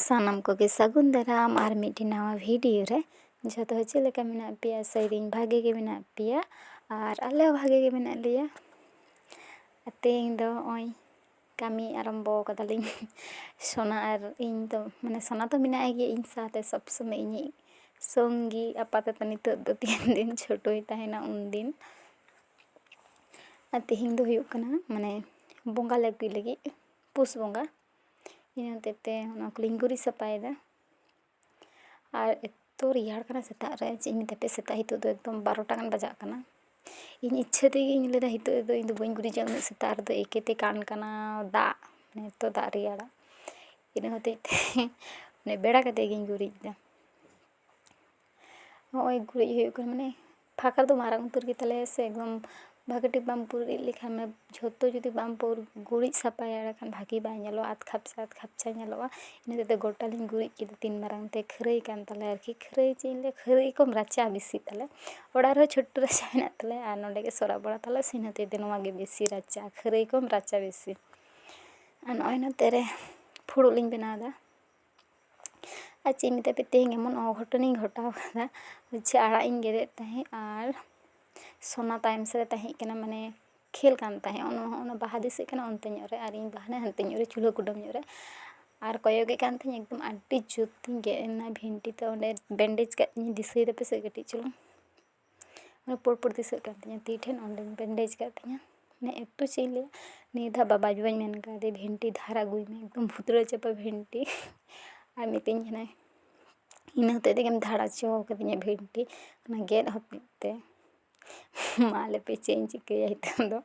ᱥᱟᱱᱟᱢ ᱠᱚᱜᱮ ᱥᱟᱹᱜᱩᱱ ᱫᱟᱨᱟᱢ ᱟᱨ ᱢᱤᱫᱴᱮᱱ ᱱᱟᱣᱟ ᱵᱷᱤᱰᱤᱭᱳ ᱨᱮ ᱡᱚᱛᱚ ᱦᱚᱲ ᱪᱮᱫ ᱞᱮᱠᱟ ᱢᱮᱱᱟᱜ ᱯᱮᱭᱟ ᱟᱥᱟᱭ ᱫᱟᱹᱧ ᱵᱷᱟᱜᱮ ᱜᱮ ᱢᱮᱱᱟᱜ ᱯᱮᱭᱟ ᱟᱨ ᱟᱞᱮ ᱦᱚᱸ ᱵᱷᱟᱜᱮ ᱜᱮ ᱢᱮᱱᱟᱜ ᱞᱮᱭᱟ ᱟᱨ ᱛᱮᱦᱮᱧ ᱫᱚ ᱦᱚᱜᱼᱚᱸᱭ ᱠᱟᱹᱢᱤ ᱟᱨᱟᱢᱵᱚ ᱠᱟᱫᱟᱞᱤᱧ ᱥᱳᱱᱟ ᱟᱨ ᱤᱧ ᱫᱚ ᱢᱟᱱᱮ ᱥᱳᱱᱟ ᱫᱚ ᱢᱮᱱᱟᱭ ᱜᱮᱭᱟ ᱤᱧ ᱥᱟᱶᱛᱮ ᱥᱚᱵ ᱥᱚᱢᱚᱭ ᱤᱧᱤᱡ ᱥᱚᱝᱜᱤ ᱟᱯᱟᱛᱚᱛᱚ ᱱᱤᱛᱚᱜ ᱫᱚ ᱛᱤᱱ ᱫᱤᱱ ᱪᱷᱳᱴᱳᱭ ᱛᱟᱦᱮᱱᱟ ᱩᱱ ᱫᱤᱱ ᱟᱨ ᱛᱮᱦᱮᱧ ᱫᱚ ᱦᱩᱭᱩᱜ ᱠᱟᱱᱟ ᱢᱟᱱᱮ ᱵᱚᱸᱜᱟ ᱞᱮ ᱟᱹᱜᱩᱭ ᱞᱟᱹᱜᱤᱫ ᱯᱩᱥ ᱵᱚᱸᱜᱟ ᱤᱱᱟᱹ ᱦᱚᱛᱮᱡ ᱛᱮ ᱚᱱᱟ ᱠᱚᱞᱤᱧ ᱜᱩᱨᱤᱡ ᱥᱟᱯᱷᱟᱭᱮᱫᱟ ᱟᱨ ᱮᱛᱚ ᱨᱮᱭᱟᱲ ᱠᱟᱱᱟ ᱥᱮᱛᱟᱜ ᱨᱮ ᱪᱮᱫ ᱤᱧ ᱢᱮᱛᱟ ᱯᱮᱭᱟ ᱥᱮᱛᱟᱜ ᱱᱤᱛᱚᱜ ᱫᱚ ᱮᱠᱫᱚᱢ ᱵᱟᱨᱚᱴᱟ ᱜᱟᱱ ᱵᱟᱡᱟᱜ ᱠᱟᱱᱟ ᱤᱧ ᱤᱪᱪᱷᱟᱹ ᱛᱮᱜᱮᱧ ᱞᱟᱹᱭᱫᱟ ᱱᱤᱛᱚᱜ ᱫᱚ ᱤᱧ ᱫᱚ ᱵᱟᱹᱧ ᱜᱩᱨᱤᱡᱟ ᱩᱱᱟᱹᱜ ᱥᱮᱛᱟᱜ ᱨᱮᱫᱚ ᱮᱠᱮ ᱛᱮ ᱠᱟᱱ ᱠᱟᱱᱟ ᱫᱟᱜ ᱮᱛᱚ ᱫᱟᱜ ᱨᱮᱭᱟᱲᱟ ᱤᱱᱟᱹ ᱦᱚᱛᱮᱡ ᱛᱮ ᱵᱮᱲᱟ ᱠᱟᱛᱮᱫ ᱜᱤᱧ ᱜᱩᱨᱤᱡ ᱮᱫᱟ ᱱᱚᱜᱼᱚᱭ ᱜᱩᱨᱤᱡ ᱦᱩᱭᱩᱜ ᱠᱟᱱᱟ ᱢᱟᱱᱮ ᱯᱷᱟᱸᱠᱟ ᱫᱚ ᱢᱟᱨᱟᱝ ᱩᱛᱟᱹᱨ ᱜᱮᱛᱟᱞᱮᱭᱟ ᱥᱮ ᱮᱠᱫᱚᱢ ᱵᱷᱟᱜᱮ ᱴᱷᱤᱠ ᱵᱟᱢ ᱜᱩᱨᱤᱡ ᱞᱮᱠᱷᱟᱱ ᱡᱷᱚᱛᱚ ᱡᱩᱫᱤ ᱵᱟᱢ ᱜᱩᱨᱤᱡ ᱥᱟᱯᱷᱟᱭᱟ ᱮᱸᱰᱮ ᱠᱷᱟᱱ ᱵᱷᱟᱜᱮ ᱵᱟᱭ ᱧᱮᱞᱚᱜᱼᱟ ᱟᱫᱽ ᱠᱷᱟᱯᱪᱟ ᱟᱫᱽ ᱠᱷᱟᱯᱪᱟ ᱧᱮᱞᱚᱜᱼᱟ ᱤᱱᱟᱹ ᱦᱚᱛᱮᱡ ᱛᱮ ᱜᱚᱴᱟ ᱞᱤᱧ ᱜᱩᱨᱤᱡ ᱠᱮᱫᱟ ᱛᱤᱱ ᱢᱟᱨᱟᱝ ᱛᱮ ᱠᱷᱟᱹᱨᱟᱹᱭ ᱠᱟᱱ ᱛᱟᱞᱮᱭᱟ ᱟᱨᱠᱤ ᱠᱷᱟᱹᱨᱟᱹᱭ ᱪᱮᱫ ᱤᱧ ᱞᱟᱹᱭᱟ ᱠᱷᱟᱹᱨᱟᱹᱭ ᱠᱚᱢ ᱨᱟᱪᱟ ᱵᱮᱥᱤ ᱛᱟᱞᱮ ᱚᱲᱟᱜ ᱨᱮᱦᱚᱸ ᱪᱷᱳᱴᱳ ᱨᱟᱪᱟ ᱢᱮᱱᱟᱜ ᱛᱟᱞᱮᱭᱟ ᱟᱨ ᱱᱚᱰᱮ ᱜᱮ ᱥᱚᱨᱟᱵ ᱚᱲᱟᱜ ᱛᱟᱞᱮ ᱥᱮ ᱤᱱᱟᱹ ᱦᱚᱛᱮᱡ ᱛᱮ ᱱᱚᱣᱟ ᱜᱮ ᱵᱮᱥᱤ ᱨᱟᱪᱟ ᱠᱷᱟᱹᱨᱟᱹᱭ ᱠᱚᱢ ᱨᱟᱪᱟ ᱵᱮᱥᱤ ᱟᱨ ᱱᱚᱜᱼᱚᱭ ᱱᱚᱛᱮ ᱨᱮ ᱯᱷᱩᱲᱩᱜ ᱞᱤᱧ ᱵᱮᱱᱟᱣᱫᱟ ᱟᱨ ᱪᱮᱫ ᱤᱧ ᱢᱮᱛᱟ ᱯᱮᱭᱟ ᱛᱮᱦᱮᱧ ᱮᱢᱚᱱ ᱚᱜᱷᱚᱴᱚᱱᱤᱧ ᱜᱷᱚᱴᱟᱣ ᱠᱟᱫᱟ ᱡᱮ ᱟᱲᱟᱜ ᱤᱧ ᱜᱮᱫᱮᱫ ᱛᱟᱦᱮᱸᱜ ᱟᱨ ᱥᱳᱱᱟ ᱛᱟᱭᱚᱢ ᱥᱮᱫ ᱨᱮ ᱛᱟᱦᱮᱸ ᱠᱟᱱᱟ ᱢᱟᱱᱮ ᱠᱷᱮᱞ ᱠᱟᱱ ᱛᱟᱦᱮᱸᱜ ᱚᱱᱟ ᱦᱚᱸ ᱚᱱᱟ ᱵᱟᱦᱟ ᱫᱤᱥᱟᱹᱜ ᱠᱟᱱᱟ ᱚᱱᱛᱮ ᱧᱚᱜ ᱨᱮ ᱟᱨ ᱤᱧ ᱫᱚ ᱦᱟᱱᱮ ᱦᱟᱱᱛᱮ ᱧᱚᱜ ᱨᱮ ᱪᱩᱞᱦᱟᱹ ᱠᱩᱰᱟᱹᱢ ᱧᱚᱜ ᱨᱮ ᱟᱨ ᱠᱚᱭᱚᱜᱮᱫ ᱠᱟᱱ ᱛᱟᱦᱮᱱᱤᱧ ᱮᱠᱫᱚᱢ ᱟᱹᱰᱤ ᱡᱩᱛᱤᱧ ᱜᱮᱫ ᱮᱱᱟ ᱵᱷᱤᱱᱴᱤ ᱛᱮ ᱚᱸᱰᱮ ᱵᱮᱱᱰᱮᱡᱽ ᱠᱟᱜ ᱛᱤᱧᱟᱹ ᱫᱤᱥᱟᱹᱭ ᱫᱟᱯᱮ ᱥᱮ ᱠᱟᱹᱴᱤᱡ ᱪᱩᱞᱩᱝ ᱯᱩᱬ ᱯᱩᱬ ᱫᱤᱥᱟᱹᱜ ᱠᱟᱱ ᱛᱤᱧᱟᱹ ᱛᱤ ᱴᱷᱮᱱ ᱚᱸᱰᱮᱧ ᱵᱮᱱᱰᱮᱡᱽ ᱠᱟᱜ ᱛᱤᱧᱟᱹ ᱢᱟᱱᱮ ᱮᱛᱚ ᱪᱮᱫ ᱤᱧ ᱞᱟᱹᱭᱟ ᱱᱤᱭᱟᱹ ᱫᱷᱟᱣ ᱵᱟᱵᱟ ᱟᱡ ᱵᱟᱵᱟᱧ ᱢᱮᱱ ᱠᱟᱣᱫᱮᱭᱟ ᱵᱷᱮᱱᱴᱤ ᱫᱷᱟᱨ ᱟᱹᱜᱩᱭ ᱢᱮ ᱮᱠᱫᱚᱢ ᱵᱷᱩᱛᱲᱟᱹ ᱪᱟᱵᱟ ᱵᱷᱮᱱᱴᱤ ᱟᱨ ᱢᱤᱛᱟᱹᱧ ᱠᱟᱱᱟᱭ ᱤᱱᱟᱹ ᱦᱚᱛᱮᱡ ᱛᱮᱜᱮᱢ ᱫᱷᱟᱨ ᱦᱚᱪᱚ ᱠᱟᱹᱫᱤᱧᱟ ᱵᱷᱮᱱᱴᱤ ᱚᱱᱟ ᱜᱮᱫ ᱦᱚᱛᱮᱡ ᱛᱮ ᱢᱟ ᱞᱟᱹᱭ ᱯᱮ ᱪᱮᱫ ᱤᱧ ᱪᱤᱠᱟᱹᱭᱟ ᱱᱤᱛᱚᱝ ᱫᱚ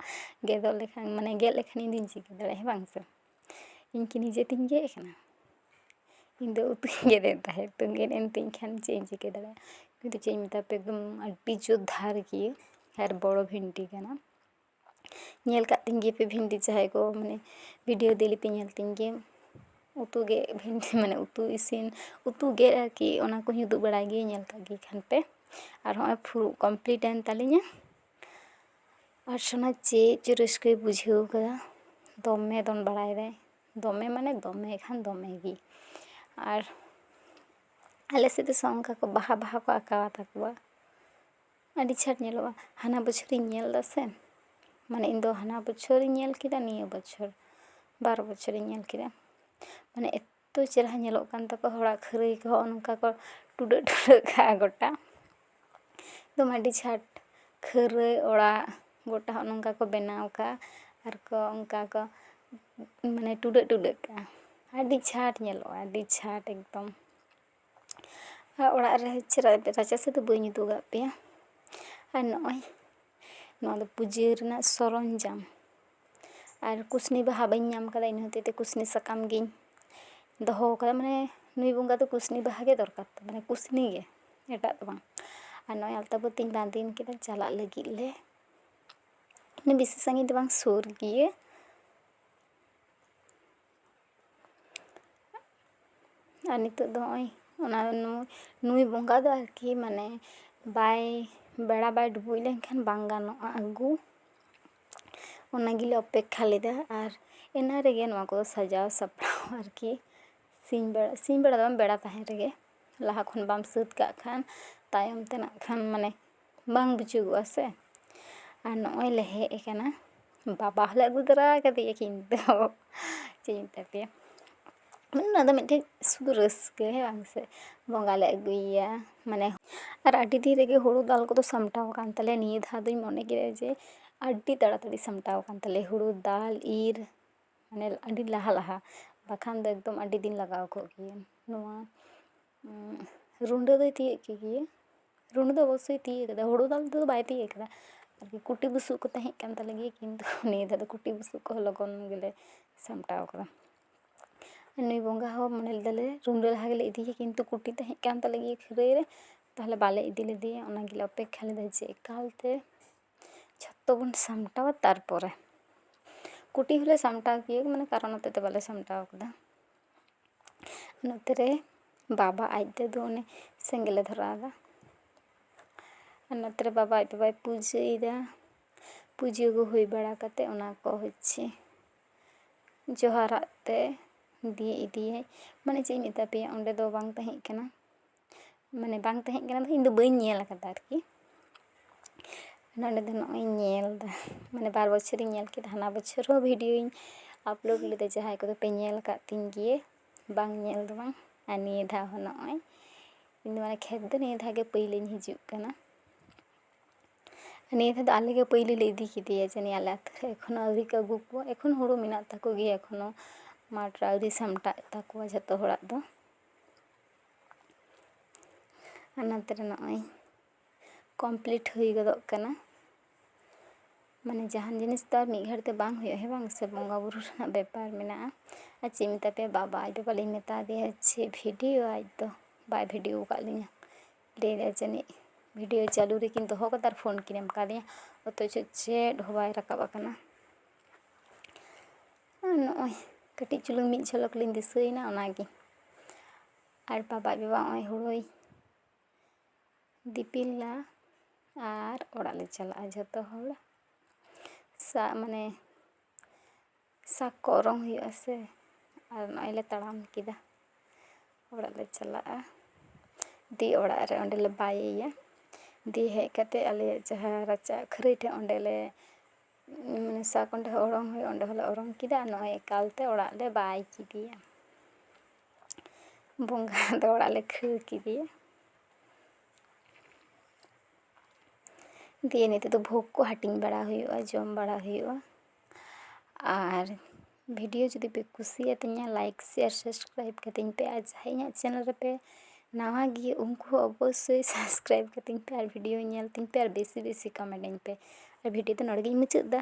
ᱜᱮᱫᱚᱜ ᱞᱮᱠᱷᱟᱱ ᱢᱟᱱᱮ ᱜᱮᱫ ᱞᱮᱠᱷᱟᱱ ᱤᱧ ᱫᱚᱧ ᱪᱤᱠᱟᱹ ᱫᱟᱲᱮᱭᱟᱜᱼᱟ ᱦᱮᱸ ᱵᱟᱝ ᱥᱮ ᱤᱧ ᱠᱤ ᱱᱤᱡᱮ ᱛᱤᱧ ᱜᱮᱫ ᱠᱟᱱᱟ ᱤᱧ ᱫᱚ ᱩᱛᱩᱧ ᱜᱮᱫ ᱮᱫ ᱛᱟᱦᱮᱸᱫ ᱛᱚ ᱜᱮᱫ ᱮᱱ ᱛᱤᱧ ᱠᱷᱟᱱ ᱪᱮᱫ ᱤᱧ ᱪᱤᱠᱟᱹ ᱫᱟᱲᱮᱭᱟᱜᱼᱟ ᱠᱤᱱᱛᱩ ᱪᱮᱫ ᱤᱧ ᱢᱮᱛᱟ ᱯᱮᱭᱟ ᱮᱠᱫᱚᱢ ᱟᱹᱰᱤ ᱡᱳᱨ ᱫᱷᱟᱨ ᱜᱮᱭᱟ ᱟᱨ ᱵᱚᱲᱚ ᱵᱷᱤᱱᱴᱤ ᱠᱟᱱᱟ ᱧᱮᱞ ᱠᱟᱜ ᱛᱤᱧ ᱜᱮᱭᱟᱯᱮ ᱵᱷᱤᱱᱴᱤ ᱡᱟᱦᱟᱸᱭ ᱠᱚ ᱢᱟᱱᱮ ᱵᱷᱤᱰᱤᱭᱳ ᱫᱮᱞᱤ ᱯᱮ ᱧᱮᱞ ᱛᱤᱧ ᱜᱮᱭᱟ ᱩᱛᱩ ᱜᱮᱫ ᱵᱷᱤᱱᱴᱤ ᱢᱟᱱᱮ ᱩᱛᱩ ᱤᱥᱤᱱ ᱩᱛᱩ ᱜᱮᱫ ᱟᱨᱠᱤ ᱚᱱᱟ ᱠᱚᱦᱚᱸᱧ ᱩᱫᱩᱜ ᱵᱟᱲᱟᱭ ᱜᱮᱭᱟ ᱧᱮᱞ ᱠᱟᱜ ᱜᱮ ᱠᱷᱟᱱ ᱯᱮ ᱟᱨ ᱦᱚᱸᱜᱼᱚᱭ ᱯᱷᱩᱲᱩᱜ ᱠᱚᱢᱯᱞᱤᱴ ᱮᱱ ᱛᱟᱹᱞᱤᱧᱟ ᱚᱨᱪᱚᱱᱟ ᱪᱮᱫ ᱪᱚ ᱨᱟᱹᱥᱠᱟᱹᱭ ᱵᱩᱡᱷᱟᱹᱣ ᱠᱟᱫᱟ ᱫᱚᱢᱮ ᱫᱚᱱ ᱵᱟᱲᱟᱭᱮᱫᱟᱭ ᱫᱚᱢᱮ ᱢᱟᱱᱮ ᱫᱚᱢᱮ ᱠᱷᱟᱱ ᱫᱚᱢᱮ ᱜᱮ ᱟᱨ ᱟᱞᱮ ᱥᱮᱫ ᱫᱚ ᱚᱱᱠᱟ ᱠᱚ ᱵᱟᱦᱟ ᱵᱟᱦᱟ ᱠᱚ ᱟᱸᱠᱟᱣ ᱟᱛᱟ ᱠᱚᱣᱟ ᱟᱹᱰᱤ ᱪᱷᱟᱴ ᱧᱮᱞᱚᱜᱼᱟ ᱦᱟᱱᱟ ᱵᱚᱪᱷᱚᱨᱤᱧ ᱧᱮᱞ ᱫᱟᱥᱮ ᱢᱟᱱᱮ ᱤᱧ ᱫᱚ ᱦᱟᱱᱟ ᱵᱚᱪᱷᱚᱨᱤᱧ ᱧᱮᱞ ᱠᱮᱫᱟ ᱱᱤᱭᱟᱹ ᱵᱚᱪᱷᱚᱨ ᱵᱟᱨ ᱵᱚᱪᱷᱚᱨᱤᱧ ᱧᱮᱞ ᱠᱮᱫᱟ ᱢᱟᱱᱮ ᱛᱚ ᱪᱮᱦᱨᱟ ᱧᱮᱞᱚᱜ ᱠᱟᱱ ᱛᱟᱠᱚᱣᱟ ᱦᱚᱲᱟᱜ ᱠᱷᱟᱹᱨᱟᱹᱭ ᱠᱚ ᱦᱚᱸᱜᱼᱚ ᱱᱚᱝᱠᱟ ᱠᱚ ᱴᱩᱰᱟᱹᱜ ᱴᱩᱰᱟᱹᱜ ᱠᱟᱜᱼᱟ ᱜᱚᱴᱟ ᱮᱠᱫᱚᱢ ᱟᱹᱰᱤ ᱪᱷᱟᱴ ᱠᱷᱟᱹᱨᱟᱹᱭ ᱚᱲᱟᱜ ᱜᱚᱴᱟ ᱦᱚᱸᱜᱼᱚ ᱱᱚᱝᱠᱟ ᱠᱚ ᱵᱮᱱᱟᱣ ᱠᱟᱜᱼᱟ ᱟᱨ ᱠᱚ ᱚᱱᱠᱟ ᱠᱚ ᱢᱟᱱᱮ ᱴᱩᱰᱟᱹᱜ ᱴᱩᱰᱟᱹᱜ ᱠᱟᱜᱼᱟ ᱟᱹᱰᱤ ᱪᱷᱟᱴ ᱧᱮᱞᱚᱜᱼᱟ ᱟᱹᱰᱤ ᱪᱷᱟᱴ ᱮᱠᱫᱚᱢ ᱟᱨ ᱚᱲᱟᱜ ᱨᱮ ᱪᱮᱫᱟᱜ ᱨᱟᱪᱟ ᱥᱮᱫ ᱫᱚ ᱵᱟᱹᱧ ᱩᱫᱩᱜᱟᱜ ᱯᱮᱭᱟ ᱟᱨ ᱱᱚᱜᱼᱚᱭ ᱱᱚᱣᱟ ᱫᱚ ᱯᱩᱡᱟᱹ ᱨᱮᱱᱟᱜ ᱥᱚᱨᱚᱧᱡᱟᱢ ᱟᱨ ᱠᱩᱥᱱᱤ ᱵᱟᱦᱟ ᱵᱟᱹᱧ ᱧᱟᱢ ᱠᱟᱫᱟ ᱤᱱᱟᱹ ᱦᱚᱛᱮᱡ ᱛᱮ ᱠᱩᱥᱱᱤ ᱥᱟᱠᱟᱢ ᱜᱤᱧ ᱫᱚᱦᱚ ᱠᱟᱫᱟ ᱢᱟᱱᱮ ᱱᱩᱭ ᱵᱚᱸᱜᱟ ᱫᱚ ᱠᱩᱥᱱᱤ ᱵᱟᱦᱟ ᱜᱮ ᱫᱚᱨᱠᱟᱨ ᱛᱟᱭ ᱢᱟᱱᱮ ᱠᱩᱥᱱᱤ ᱜᱮ ᱮᱴᱟᱜ ᱫᱚ ᱵᱟᱝ ᱟᱨ ᱱᱚᱜᱼᱚᱭ ᱟᱞᱛᱟ ᱯᱟᱹᱛᱤᱧ ᱵᱟᱸᱫᱮᱭᱮᱱ ᱠᱷᱟᱱ ᱪᱟᱞᱟᱜ ᱞᱟᱹᱜᱤᱫ ᱞᱮ ᱵᱮᱥᱤ ᱥᱟᱺᱜᱤᱧ ᱫᱚ ᱵᱟᱝ ᱥᱩᱨ ᱜᱮᱭᱟ ᱟᱨ ᱱᱤᱛᱳᱜ ᱫᱚ ᱦᱚᱸᱜᱼᱚᱭ ᱚᱱᱟ ᱱᱩᱭ ᱵᱚᱸᱜᱟ ᱫᱚ ᱟᱨᱠᱤ ᱢᱟᱱᱮ ᱵᱟᱭ ᱵᱮᱲᱟ ᱵᱟᱭ ᱰᱩᱵᱩᱡ ᱞᱮᱱᱠᱷᱟᱱ ᱵᱟᱝ ᱜᱟᱱᱚᱜᱼᱟ ᱟᱹᱜᱩ ᱚᱱᱟ ᱜᱮᱞᱮ ᱚᱯᱮᱠᱠᱷᱟ ᱞᱮᱫᱟ ᱟᱨ ᱮᱱᱟᱝ ᱨᱮᱜᱮ ᱱᱚᱣᱟ ᱠᱚ ᱥᱟᱡᱟᱣ ᱥᱟᱯᱲᱟᱣ ᱟᱨᱠᱤ ᱥᱤᱧ ᱵᱮᱲᱟ ᱥᱤᱧ ᱵᱮᱲᱟ ᱫᱚ ᱵᱟᱝ ᱵᱮᱲᱟ ᱛᱟᱦᱮᱱ ᱨᱮᱜᱮ ᱞᱟᱦᱟ ᱠᱷᱚᱱ ᱵᱟᱢ ᱥᱟᱹᱛ ᱠᱟᱜ ᱠᱷᱟᱱ ᱛᱟᱭᱚᱢ ᱛᱮ ᱱᱟᱜ ᱠᱷᱟᱱ ᱢᱟᱱᱮ ᱵᱟᱝ ᱵᱩᱡᱩᱜᱚᱜᱼᱟ ᱥᱮ ᱟᱨ ᱱᱚᱜᱼᱚᱭ ᱞᱮ ᱦᱮᱡ ᱠᱟᱱᱟ ᱵᱟᱵᱟ ᱦᱚᱸᱞᱮ ᱟᱹᱜᱩ ᱛᱚᱨᱟ ᱠᱟᱫᱮᱭᱟ ᱠᱤᱱᱛᱩ ᱪᱮᱫ ᱤᱧ ᱢᱮᱛᱟ ᱯᱮᱭᱟ ᱚᱱᱟ ᱫᱚ ᱢᱤᱫᱴᱮᱡ ᱥᱩᱫᱷᱩ ᱨᱟᱹᱥᱠᱟᱹ ᱦᱮᱸ ᱵᱟᱝ ᱥᱮ ᱵᱚᱸᱜᱟ ᱞᱮ ᱟᱹᱜᱩᱭᱮᱭᱟ ᱢᱟᱱᱮ ᱟᱨ ᱟᱹᱰᱤ ᱫᱤᱱ ᱨᱮᱜᱮ ᱦᱳᱲᱳ ᱫᱟᱞ ᱠᱚᱫᱚ ᱥᱟᱢᱴᱟᱣ ᱠᱟᱱ ᱛᱟᱞᱮᱭᱟ ᱱᱤᱭᱟᱹ ᱫᱷᱟᱣ ᱫᱚᱧ ᱢᱚᱱᱮ ᱠᱮᱫᱟ ᱡᱮ ᱟᱹᱰᱤ ᱛᱟᱲᱟᱛᱟᱲᱤ ᱥᱟᱢᱴᱟᱣ ᱠᱟᱱ ᱛᱟᱞᱮᱭᱟ ᱦᱳᱲᱳ ᱫᱟᱞ ᱤᱨ ᱢᱟᱱᱮ ᱟᱹᱰᱤ ᱞᱟᱦᱟ ᱞᱟᱦᱟ ᱵᱟᱠᱷᱟᱱ ᱫᱚ ᱮᱠᱫᱚᱢ ᱟᱹᱰᱤ ᱫᱤᱱ ᱞᱟᱜᱟᱣ ᱠᱚᱜ ᱠᱮᱭᱟ ᱱᱚᱣᱟ ᱨᱩᱸᱰᱟᱹ ᱫᱚᱭ ᱛᱤᱭᱳᱜ ᱠᱮᱫ ᱜᱮᱭᱟ ᱨᱩᱸᱰᱟᱹ ᱫᱚ ᱚᱵᱚᱥᱥᱳᱭ ᱛᱤᱭᱳᱜ ᱠᱟᱫᱟ ᱦᱳᱲᱳ ᱫᱟᱞ ᱛᱮᱫᱚ ᱵᱟᱭ ᱛᱤᱭᱳᱜ ᱠᱟᱫᱟ ᱟᱨᱠᱤ ᱠᱩᱴᱤ ᱵᱩᱥᱩᱵ ᱠᱚ ᱛᱟᱦᱮᱸ ᱠᱟᱱ ᱛᱟᱞᱮ ᱜᱮᱭᱟ ᱠᱤᱱᱛᱩ ᱱᱤᱭᱟᱹ ᱫᱷᱟᱣ ᱫᱚ ᱠᱩᱴᱤ ᱵᱩᱥᱩᱵ ᱠᱚᱦᱚᱸ ᱞᱚᱜᱚᱱ ᱜᱮᱞᱮ ᱥᱟᱢᱴᱟᱣ ᱠᱟᱫᱟ ᱱᱩᱭ ᱵᱚᱸᱜᱟ ᱦᱚᱸ ᱢᱚᱱᱮ ᱞᱮᱫᱟᱞᱮ ᱨᱩᱸᱰᱟᱹ ᱞᱟᱦᱟ ᱜᱮᱞᱮ ᱤᱫᱤᱭᱮᱭᱟ ᱠᱤᱱᱛᱩ ᱠᱩᱴᱤ ᱛᱟᱦᱮᱸ ᱠᱟᱱ ᱛᱟᱞᱮ ᱜᱮᱭᱟ ᱠᱷᱟᱹᱨᱟᱹᱭ ᱨᱮ ᱛᱟᱦᱚᱞᱮ ᱵᱟᱞᱮ ᱤᱫᱤ ᱞᱮᱫᱮᱭᱟ ᱚᱱᱟ ᱜᱮᱞᱮ ᱚᱯᱮᱠᱠᱷᱟ ᱞᱮᱫᱟ ᱡᱮ ᱮᱠᱟᱞ ᱛᱮ ᱡᱷᱚᱛᱚ ᱵᱚᱱ ᱥᱟᱢᱴᱟᱣᱟ ᱛᱟᱨᱯᱚᱨᱮ ᱠᱩᱴᱤ ᱦᱚᱸᱞᱮ ᱥᱟᱢᱴᱟᱣ ᱠᱮᱫᱟ ᱢᱟᱱᱮ ᱠᱟᱨᱚᱱ ᱦᱚᱛᱮᱜ ᱛᱮ ᱵᱟᱞᱮ ᱥᱟᱢᱴᱟᱣ ᱠᱟᱫᱟ ᱱᱚᱛᱮ ᱨᱮ ᱵᱟᱵᱟ ᱟᱡ ᱛᱮᱫᱚ ᱚᱱᱮ ᱥᱮᱸᱜᱮᱞᱮ ᱫᱷᱚᱨᱟᱣ ᱮᱫᱟ ᱟᱨ ᱱᱚᱛᱮ ᱨᱮ ᱵᱟᱵᱟ ᱟᱡ ᱵᱟᱵᱟᱭ ᱯᱩᱡᱟᱹᱭᱮᱫᱟ ᱯᱩᱡᱟᱹ ᱠᱚ ᱦᱩᱭ ᱵᱟᱲᱟ ᱠᱟᱛᱮ ᱚᱱᱟ ᱠᱚ ᱦᱚᱪᱪᱷᱮ ᱡᱚᱦᱟᱨᱟᱜ ᱛᱮ ᱫᱤᱭᱮ ᱤᱫᱤᱭᱟᱭ ᱢᱟᱱᱮ ᱪᱮᱫ ᱤᱧ ᱢᱮᱛᱟ ᱯᱮᱭᱟ ᱚᱸᱰᱮ ᱫᱚ ᱵᱟᱝ ᱛᱟᱦᱮᱸᱜ ᱠᱟᱱᱟ ᱢᱟᱱᱮ ᱵᱟᱝ ᱛᱟᱦᱮᱸ ᱠᱟᱱᱟ ᱤᱧ ᱫᱚ ᱵᱟᱹᱧ ᱧᱮᱞ ᱠᱟᱫᱟ ᱟᱨᱠᱤ ᱱᱚᱰᱮ ᱫᱚ ᱱᱚᱜᱼᱚᱭ ᱤᱧ ᱧᱮᱞᱫᱟ ᱢᱟᱱᱮ ᱵᱟᱨ ᱵᱚᱪᱷᱚᱨᱤᱧ ᱧᱮᱞ ᱠᱮᱫᱟ ᱦᱟᱱᱟ ᱵᱚᱪᱷᱚᱨ ᱦᱚᱸ ᱵᱷᱤᱰᱤᱭᱳᱧ ᱟᱯᱞᱳᱰ ᱞᱮᱫᱟ ᱡᱟᱦᱟᱸᱭ ᱠᱚᱫᱚ ᱯᱮ ᱧᱮᱞ ᱠᱟᱜ ᱛᱤᱧ ᱜᱮᱭᱟ ᱵᱟᱝ ᱧᱮᱞ ᱫᱚ ᱵᱟᱝ ᱟᱨ ᱱᱤᱭᱟᱹ ᱫᱷᱟᱣ ᱦᱚᱸ ᱱᱚᱜᱼᱚᱭ ᱤᱧ ᱫᱚ ᱢᱟᱱᱮ ᱠᱷᱮᱛ ᱫᱚ ᱱᱤᱭᱟᱹ ᱫᱷᱟᱣ ᱜᱮ ᱯᱟᱹᱭᱞᱟᱹᱧ ᱦᱤᱡᱩᱜ ᱠᱟᱱᱟ ᱱᱤᱭᱟᱹ ᱫᱷᱟᱣ ᱫᱚ ᱟᱞᱮ ᱜᱮ ᱯᱟᱹᱭᱞᱟᱹ ᱞᱮ ᱤᱫᱤ ᱠᱮᱫᱮᱭᱟ ᱡᱟᱹᱱᱤᱡ ᱟᱞᱮ ᱟᱛᱳ ᱨᱮ ᱮᱠᱷᱚᱱᱳ ᱟᱹᱣᱨᱤ ᱠᱚ ᱟᱹᱜᱩ ᱠᱚᱣᱟ ᱮᱠᱷᱚᱱ ᱦᱳᱲᱳ ᱢᱮᱱᱟᱜ ᱛᱟᱠᱚ ᱜᱮᱭᱟ ᱮᱠᱷᱚᱱᱳ ᱢᱟᱴᱷ ᱨᱮ ᱟᱹᱣᱨᱤ ᱥᱟᱢᱴᱟᱜ ᱛᱟᱠᱚᱣᱟ ᱡᱷᱚᱛᱚ ᱦᱚᱲᱟᱜ ᱫᱚ ᱦᱚᱱᱚᱛ ᱨᱮ ᱱᱚᱜᱼᱚᱭ ᱠᱚᱢᱯᱞᱤᱴ ᱦᱩᱭ ᱜᱚᱫᱚᱜ ᱠᱟᱱᱟ ᱢᱟᱱᱮ ᱡᱟᱦᱟᱱ ᱡᱤᱱᱤᱥ ᱫᱚ ᱟᱨ ᱢᱤᱫ ᱜᱷᱟᱹᱲᱤᱡ ᱛᱮ ᱵᱟᱝ ᱦᱩᱭᱩᱜᱼᱟ ᱦᱮᱸ ᱵᱟᱝ ᱥᱮ ᱵᱚᱸᱜᱟ ᱵᱳᱨᱳ ᱨᱮᱱᱟᱜ ᱵᱮᱯᱟᱨ ᱢᱮᱱᱟᱜᱼᱟ ᱟᱨ ᱪᱮᱫ ᱤᱧ ᱢᱮᱛᱟ ᱯᱮᱭᱟ ᱵᱟᱵᱟ ᱟᱡ ᱵᱟᱵᱟ ᱞᱤᱧ ᱢᱮᱛᱟ ᱫᱮᱭᱟ ᱡᱮ ᱵᱷᱤᱰᱤᱭᱳ ᱟᱭ ᱛᱚ ᱵᱟᱭ ᱵᱷᱤᱰᱤᱭᱳ ᱟᱠᱟᱫ ᱞᱤᱧᱟᱹ ᱞᱟᱹᱭ ᱫᱟᱭ ᱡᱟᱹᱱᱤᱡ ᱵᱷᱤᱰᱤᱭᱳ ᱪᱟᱹᱞᱩ ᱨᱮᱠᱤᱱ ᱫᱚᱦᱚ ᱠᱟᱫᱟ ᱟᱨ ᱯᱷᱳᱱ ᱠᱤᱱ ᱮᱢ ᱠᱟᱣᱫᱤᱧᱟ ᱚᱛᱷᱚᱪᱚ ᱪᱮᱫ ᱦᱚᱸ ᱵᱟᱭ ᱨᱟᱠᱟᱵ ᱟᱠᱟᱱᱟ ᱟᱨ ᱱᱚᱜᱼᱚᱭ ᱠᱟᱹᱴᱤᱡ ᱪᱩᱞᱩᱝ ᱢᱤᱫ ᱡᱷᱚᱞᱚᱠ ᱞᱤᱧ ᱫᱤᱥᱟᱹᱭᱮᱱᱟ ᱚᱱᱟᱜᱮ ᱟᱨ ᱵᱟᱵᱟ ᱟᱡ ᱵᱟᱵᱟ ᱱᱚᱜᱼᱚᱭ ᱦᱳᱲᱳᱭ ᱫᱤᱯᱤᱞᱟ ᱟᱨ ᱚᱲᱟᱜ ᱞᱮ ᱪᱟᱞᱟᱜᱼᱟ ᱡᱷᱚᱛᱚ ᱦᱚᱲ ᱥᱟ ᱢᱟᱱᱮ ᱥᱟᱠ ᱠᱚ ᱚᱨᱚᱝ ᱦᱩᱭᱩᱜᱼᱟ ᱥᱮ ᱟᱨ ᱱᱚᱜᱼᱚᱭ ᱞᱮ ᱛᱟᱲᱟᱢ ᱠᱮᱫᱟ ᱚᱲᱟᱜ ᱞᱮ ᱪᱟᱞᱟᱜᱼᱟ ᱫᱤ ᱚᱲᱟᱜ ᱨᱮ ᱚᱸᱰᱮ ᱞᱮ ᱵᱟᱭᱮᱭᱟ ᱫᱤᱭᱮ ᱦᱮᱡ ᱠᱟᱛᱮ ᱟᱞᱮᱭᱟᱜ ᱡᱟᱦᱟᱸ ᱨᱟᱪᱟ ᱠᱷᱟᱹᱨᱟᱹᱭ ᱴᱷᱮᱡ ᱚᱸᱰᱮ ᱞᱮ ᱥᱟᱠ ᱚᱸᱰᱮ ᱦᱚᱸ ᱚᱨᱚᱝ ᱦᱩᱭᱩᱜᱼᱟ ᱚᱸᱰᱮ ᱦᱚᱸᱞᱮ ᱚᱨᱚᱝ ᱠᱮᱫᱟ ᱱᱚᱜᱼᱚᱭ ᱮᱠᱟᱞᱛᱮ ᱚᱲᱟᱜ ᱞᱮ ᱵᱟᱭ ᱠᱮᱫᱮᱭᱟ ᱵᱚᱸᱜᱟ ᱫᱚ ᱚᱲᱟᱜ ᱞᱮ ᱠᱷᱟᱹᱲ ᱠᱮᱫᱮᱭᱟ ᱫᱤᱭᱮ ᱱᱤᱛᱚᱜ ᱫᱚ ᱵᱷᱳᱜᱽ ᱠᱚ ᱦᱟᱹᱴᱤᱧ ᱵᱟᱲᱟ ᱦᱩᱭᱩᱜᱼᱟ ᱡᱚᱢ ᱵᱟᱲᱟ ᱦᱩᱭᱩᱜᱼᱟ ᱟᱨ ᱵᱷᱤᱰᱤᱭᱳ ᱡᱩᱫᱤ ᱯᱮ ᱠᱩᱥᱤᱭᱟᱛᱤᱧᱟ ᱞᱟᱭᱤᱠ ᱥᱮᱭᱟᱨ ᱥᱟᱵᱥᱠᱨᱟᱭᱤᱵᱽ ᱠᱟᱹᱛᱤᱧ ᱯᱮ ᱟᱨ ᱡᱟᱦᱟᱸᱭ ᱤᱧᱟᱹᱜ ᱪᱮᱱᱮᱞ ᱨᱮᱯᱮ ᱱᱟᱣᱟ ᱜᱮᱭᱟ ᱩᱱᱠᱩ ᱦᱚᱸ ᱚᱵᱚᱥᱥᱳᱭ ᱥᱟᱵᱥᱠᱨᱟᱭᱤᱵᱽ ᱠᱟᱹᱛᱤᱧ ᱯᱮ ᱟᱨ ᱵᱷᱤᱰᱤᱭᱳ ᱧᱮᱞ ᱛᱤᱧ ᱯᱮ ᱟᱨ ᱵᱮᱥᱤ ᱵᱮᱥᱤ ᱠᱚᱢᱮᱱᱴ ᱟᱹᱧ ᱯᱮ ᱟᱨ ᱵᱷᱤᱰᱤᱭᱳ ᱫᱚ ᱱᱚᱰᱮ ᱜᱤᱧ ᱢᱩᱪᱟᱹᱫ ᱮᱫᱟ